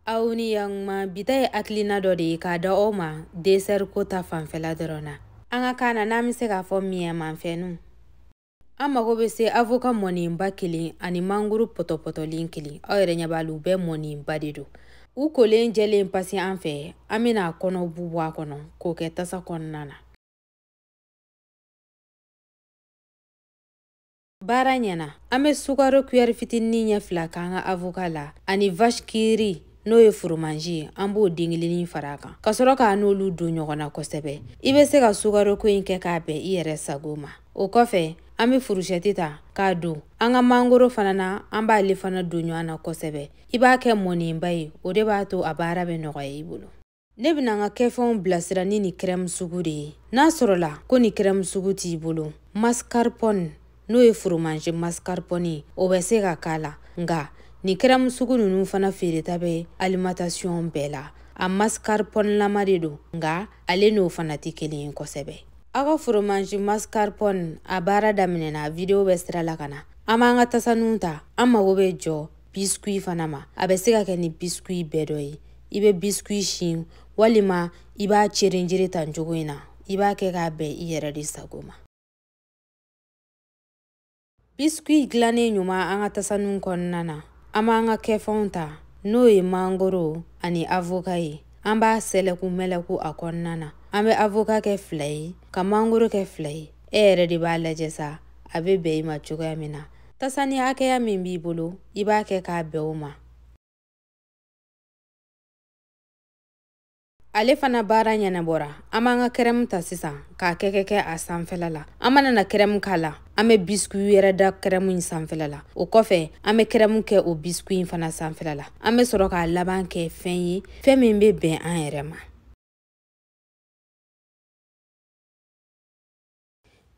aw ni yanguma bi ta ye hakilina dɔ de ye k'a da aw ma desɛri ko ta fanfɛla dɔrɔn na an ka kan na n'an bɛ se k'a fɔ miyɛmanfɛnu an mago bɛ se avoka mɔnenba kelen ani manguru pɔtɔpɔtɔlen kelen aw yɛrɛ ɲɛ b'a la u bɛɛ mɔnenba de don u kolen jɛlen pasi an fɛ an bɛna a kɔnɔ bu bɔ a kɔnɔ k'o kɛ tasa kɔnɔna na baara ɲɛna an bɛ sukaro kuyɛri fitinin ɲɛ fila k'an ka avoka la ani vache qui rit n'o ye foromanji ye an b'o den kelennin fara a kan ka sɔrɔ k'a n'olu don ɲɔgɔn na kosɛbɛ i bɛ se ka sukaroko in kɛ k'a bɛn i yɛrɛ sago ma o kɔfɛ an bɛ furusɛti ta k'a don an ka mangoro fana na an b'ale fana don ɲɔgɔn na kosɛbɛ i b'a kɛ mɔnenba ye o de b'a to a baara bɛ nɔgɔya i bolo ne bɛna n ka kɛfɛnw bilasira ni nin kɛrɛmu sugu de ye n'a sɔrɔla ko nin kɛrɛmu sugu t'i bolo mascarpone n'o ye foromanze mascarpone o bɛ se ka k'a la nka nin kɛrɛmu sugu ninnu fana feereta bɛ alimentasiyɔn bɛɛ la a mascarpone-lama de don nka ale n'o fana tɛ kelen ye kosɛbɛ aw ka foromanze mascarpone a baara daminɛna videwo bɛ sira la ka na an b'an ka tasaninw ta an mago bɛ jɔ biskuyi fana ma a bɛ se ka kɛ ni biskuyi bɛɛ dɔ ye i bɛ biskuyi sin walima i b'a cerenjere tan cogo in na i b'a kɛ k'a bɛn i yɛrɛ de sago ma biskuyi dilannen ɲuman an ka tasaninw kɔnɔna na an b'an ka kɛfɛnw ta n'o ye mangoro ani avoka ye an b'a sɛlɛku mɛlɛku a kɔnɔna na an bɛ avoka kɛ fila ye ka mangoro kɛ fila ye e yɛrɛ de b'a lajɛ sa a bɛ bɛn i ma cogoya min na Tasani hakɛya min b'i bolo i b'a kɛ k'a bɛn o ma ale fana baara ɲɛnabɔra an b'an ka kɛrɛmu ta sisan k'a kɛ kɛ kɛ a sanfɛla la an mana na kɛrɛmu k'a la an bɛ bisikuyi wɛrɛ da kɛrɛmu in sanfɛla la o kɔfɛ an bɛ kɛrɛmu kɛ o bisikuyi in fana sanfɛla la an bɛ sɔrɔ k'a laban kɛ fɛn ye fɛn min bɛ bɛn an yɛrɛ ma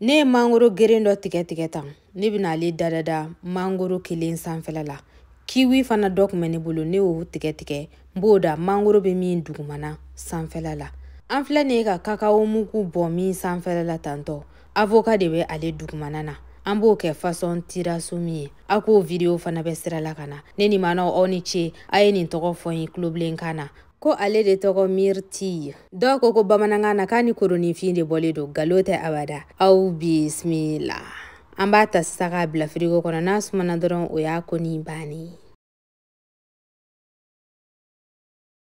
ne ye mangoro geren dɔ tigɛ tigɛ tan ne bɛna ale da da da mangoro kelen sanfɛla la kiwi fana dɔ kun bɛ ne bolo ne y'o tigɛ tigɛ n b'o da mangoro bɛ min dugumana sanfɛla la an filɛ nin ye ka kakao mugu bɔn min sanfɛla la tantɔ avoka de bɛ ale dugumana na an b'o kɛ fasɔn tiramisu ye a k'o vidiyo fana bɛ sira la ka na ne ni manaw aw ni ce a ye nin tɔgɔ fɔ n ye tulobilenkan na ko ale de tɔgɔ myrtille dɔw ko ko bamanankan na k'a ni koroninfin de bɔlen don nkalon tɛ abada aw bisimila an b'a ta sisan k'a bila firigo kɔnɔ n'a sumana dɔrɔn o y'a ko nin bannen